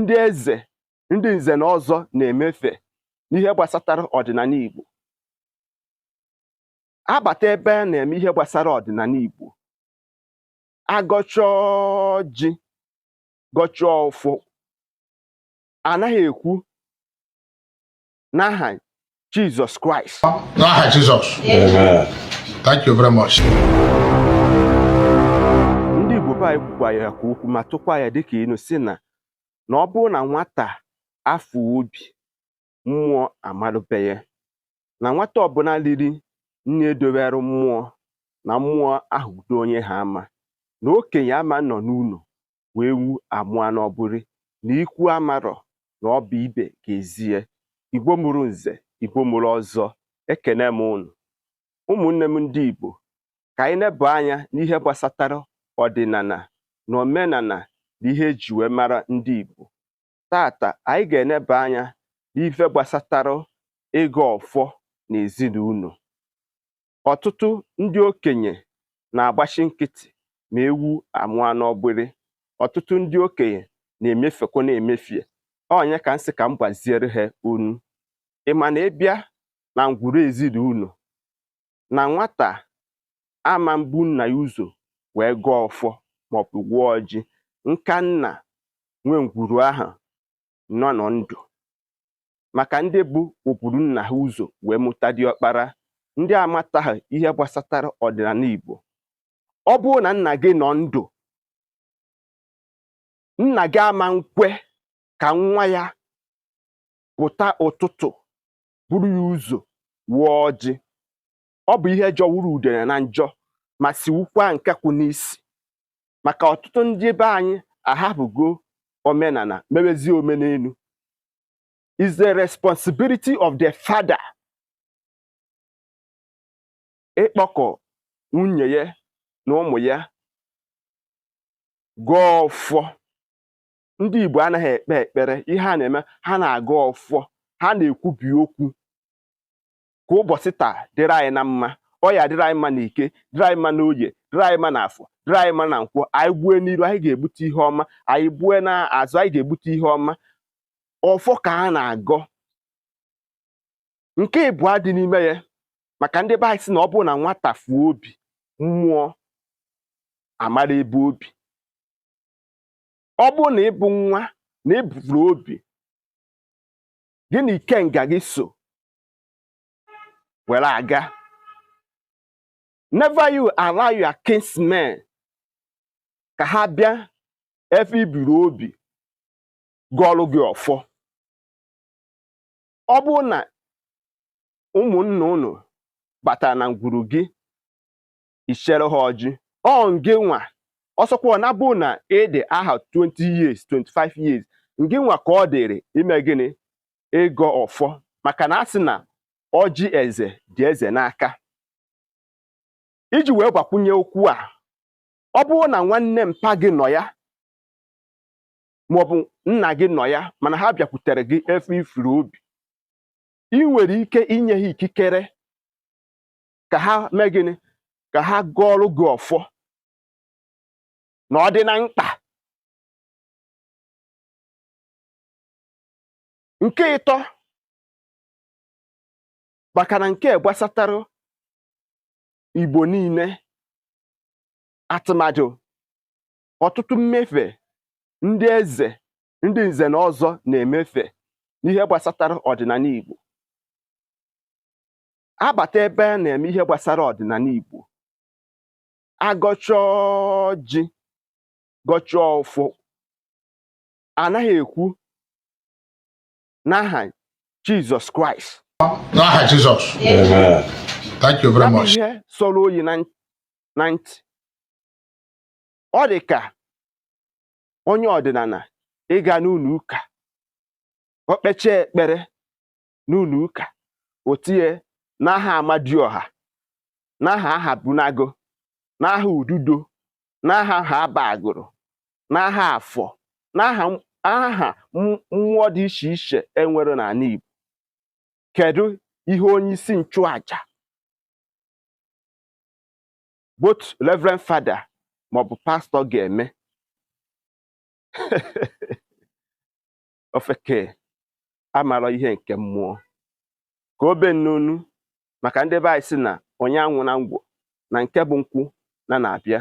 ndị eze ndị nze na ọzọ na-emefe n'ihe gbasatara ọdịnala Igbo abata ebe a na-eme ihe gbasara ọdịnala Igbo agọchaa ọjị gọchaa ọfọ anaghị ekwu n'aha Jizọs Kraịst n'aha Jizọs thank you very much ndị Igbo be anyị kwukwa ya ka okwu ma tụkwa ya dịka inu si na na ọ bụrụ na nwata afọ obi mmụọ amarụ be ya na nwata ọbụla riri nni edowere mmụọ na mmụọ ahụ udo onye ha ama na okenye ama nọ n'ụlọ wee ewu amụa n'ọgbụrị na ikwu amarọ na ọ bụ ibe ga-ezie igbo mụrụ nze igbo mụrụ ọzọ ekene m unu ụmụnne m ndị igbo ka anyị neba anya n'ihe gbasatara ọdịnala na omenala na ihe eji wee mara ndị igbo tata anyị ga-eneba anya n'ife gbasatara ịgọ ọfọ na ezinụlọ Ọtụtụ ndị okenye na-agbachi nkịtị ma ewu amụọ n'ọgbịrị. Ọtụtụ ndị okenye na-emefekwa na-emefie. Ọ nya ka m sị ka m gbaziere ha unu. Ị ma na ị bịa na ngwuru ezinụlọ na nwata ama mbu nna ya ụzọ wee gọọ ọfọ maọbụ gọọ ọjị nka nna nwe ngwuru ahụ nọ nọ ndụ maka ndị bụ oburu nna ha ụzọ wee mụta diọkpara ndị amataghị ihe gbasatara ọdịnala Igbo ọ bụrụ na nna gị nọ ndụ nna gị ama nkwe ka nwa ya pụta ụtụtụ buru ya ụzọ waa ọjị ọ bụ ihe jọwuru udene na njọ ma siwukwa nkakwụ n'isi maka ọtụtụ ndị be anyị ahapụgo omenala mewezie omenelu is the responsibility of the father ịkpọkọ nwunye ya na ụmụ ya gọọ ọfọ ndị Igbo anaghị ekpe ekpere ihe ha na-eme ha na-agọ ọfọ ha na-ekwubi okwu ka ụbọchị taa dịrị anyị na mma ọ ya-adịrị anyị mma na eke dịrị anyị mma na oye dịrị anyị mma na afọ dịrị anyị mma na nkwọ anyị gbue n'iru anyị ga-egbute ihe ọma anyị gbue na azụ anyị ga-egbute ihe ọma ọfọ ka a na-agọ nke ịbụọ dị n'ime ya maka ndị be anyị si na ọ bụrụ na nwata fuo obi mmụọ amara ebe obi ọ bụrụ na ị bụ nwa na ebufuru obi gị na ikenga gị so were aga never you allow your kinsmen ka ha bịa efe iburu obi gọọlụ gị ọfọ ọ bụrụ na ụmụnna unu batara na ngwuru gị ichere ha ọjị ọ ngị nwa ọsọkwa na bụ na ịdị aha 20 years 25 years ngị nwa ka ọ dịrị ime gịnị ịgọ ọfọ maka na a sị na ọjị eze dị eze n'aka iji wee gbakwunye okwu a ọ bụrụ na nwanne mpa gị nọ ya maọbụ nna gị nọ ya mana ha bịakwutere gị efe ifuru obi ị nwere ike inye ha ikikere ka ha mee gịnị ka ha gọọrụ gị ọfọ na ọ dị na mkpa nke ịtọ maka na nke gbasatara igbo niile atụmadụ ọtụtụ mmefe ndị eze ndị nze na ọzọ na-emefe n'ihe gbasatara ọdịnala igbo abata ebe a na-eme ihe gbasara ọdịnala Igbo agọchaa ọjị gọchaa ọfọ anaghị ekwu n'aha Jizọs Kraịst n'aha Jizọs thank you very much ihe sọrọ oyi na ntị ọ dị ka onye ọdịnala ịga n'ụlọ ụka o kpechaa ekpere n'ụlọ ụka o tinye n'aha amadioha n'aha ahabunagụ n'aha ududo n'aha haba agụlụ n'aha afọ n'aha aha mmụọ dị iche iche enwere n'ala Igbo kedu ihe onye isi nchụaja both reverend father maọbụ pastọ ga-eme ofeke amara ihe nke mmụọ ka obe n'onu maka ndị be anyị sị na onye aṅụna ngwọ na nke bụ nkwụ na na-abịa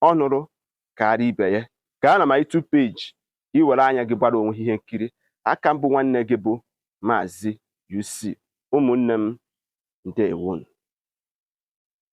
ọ ṅụrụ karịa ibe ya gaa na my YouTube page ka ị were anya gị gbara onwe ihe nkiri a ka m bụ nwanne gị bụ maazị UC ụmụnne m ndewonu